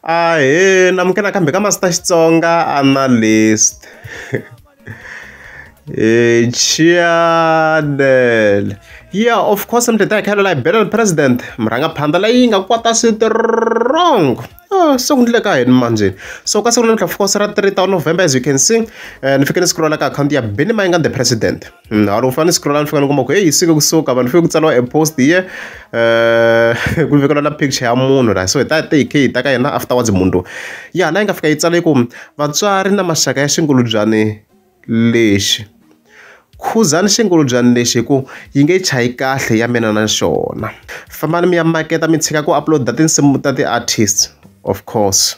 Ahee ni amukela nakambe ka Master Xitsonga Analyst hi channel yeah of course ni teta hi khayelo la hi bela president murhangaphandla leyi nga kwata strong ah, se ku ndleka hini manjeni so ka siku namuntlha of course ra 3 ta november as you can see eh, ni fike ni scrolla ka akhawunti ya benimai nga the president Mm, hari ufana ni scroll nifika ngomba ku hey siku kusuka vanhu fike kutsala a post here eh ku vekela na picture ya munhu la so ta take key ta ka yena afterwards munhu ya na inga fika yi tsale ku vatswari na maxaka ya xingulubyane lexi khuzani xingulubyani lexi hi ku yi nge chayi kahle ya mina na xona fambani mi ya maketa mi tshika ku upload-a tinsimu ta ti-artist Of course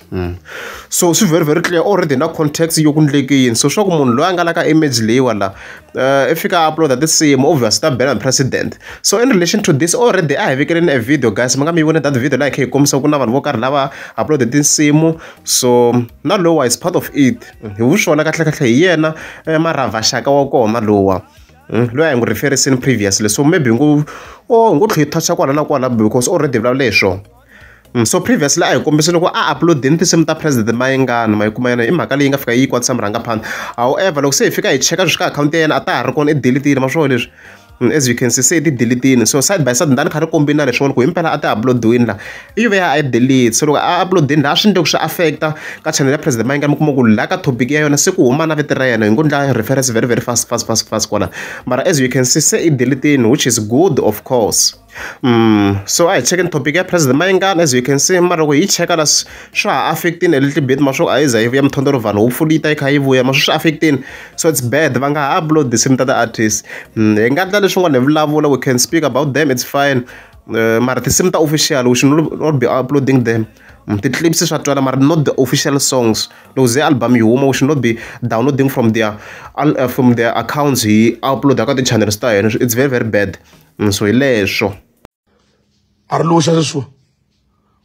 so swi very very clear already na context yo ku endleke yini so swa ku munhu loyi a nga la ka image leyiwa la uh, i fika a uploada tinsimu obvious ta bela president so in relation to this already a hi vekeleni a video guys mi nga mi vone that video laha hi kha hi kombisa ku na vanhu vo karhi lava uploade tinsimu so na lowa is part of it hi vu swona kahlekahle hi yena eh, marava xaka wa kona lowa Hmm? loyi a hi n'wi referisini previously so maybe hi ngo o oh, hi ngo tlhe hi toucha kwala na kwala because already vulavule hi swona So previously a hi kombise loko a upload-ini tinsimu ta president Mayengani ma yi kuma yona i mhaka leyi nga fika yi kwatisa murhangaphandle however loko se hi fika hi cheka leswi ka akhawunti ya yena a ta ha ri kona i delete-ini ma swona leswi as you can see se ti delete-ini so side by side ndani kha ri kombini na leswin'wana ku himpela a ti upload-ini laha i ve a yi delete so loko a upload-ini laha swi endle ku swi affect-a ka channel ya president Mayengani mi kuma ku laha ka topic ya yona se ku huma na vito ra yena hi ngo ndla reference very very fast fast fast fast kwala mara as you can see se i delete-ini which is good of course. so a hi chekeni topic ya president mayengani as you can see mara loko hi cheka la swa ha affect-ini a little bit ma swo a yi za yi vuya mintlhontlho vanhu hopefully yi ta yi kha yi vuya ma swi swi affect-ini so it's bad va nga ha upload tinsimu ta ti-artist hi nga endla leswin'wana hi vulavula we can speak about them it's fine uh, mara tinsimu ta official we should not be uploading them ti-clips swa twala mara not the official songs loko ze album yi huma we should not be downloading from their, uh, from their accounts hi upload ka ti-channels ta hina it's very very bad so hi leswo a ri loxa sweswiwa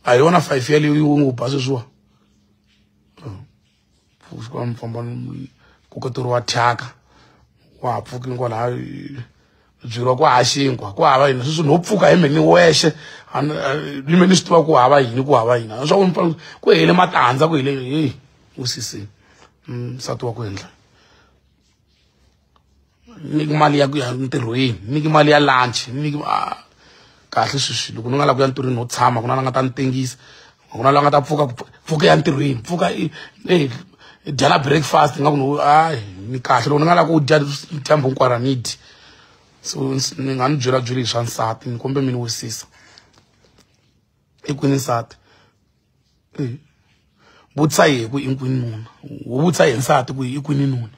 a hi yona five ya leyi u n'wi ba sweswiwa pfuka mfamba kuketeriwa thyaka wa ha pfuki kwalaha byiriwa ku ha xinkwa ku hava yini sweswi no pfuka hi mheni wexe ni me ni swi tiva ku hava yini ku hava yini a swa ku ku hele matandza ku hele heyi u sisini nsati wa ku endla nyiki mali ya ku ya ntirhweni nyiki mali ya lunch nyiki ah, kahle sweswi loko ni nga la ku ya ntirhweni no tshama ku na la nga ta ni tengisa ku na la nga ta pfuka pfuka ya ntirhweni pfuka i dyela breakfast nga ku no hayi ni kahle loko ni nga la ku dya dyambu hinkwara ni dyi so ni nga ni byela byeli hi swa nsati ni kombe mi ni wisisa i kwini nsati vutisa hi ku i kwini nuna wu vutisa hi nsati ku i kwini nuna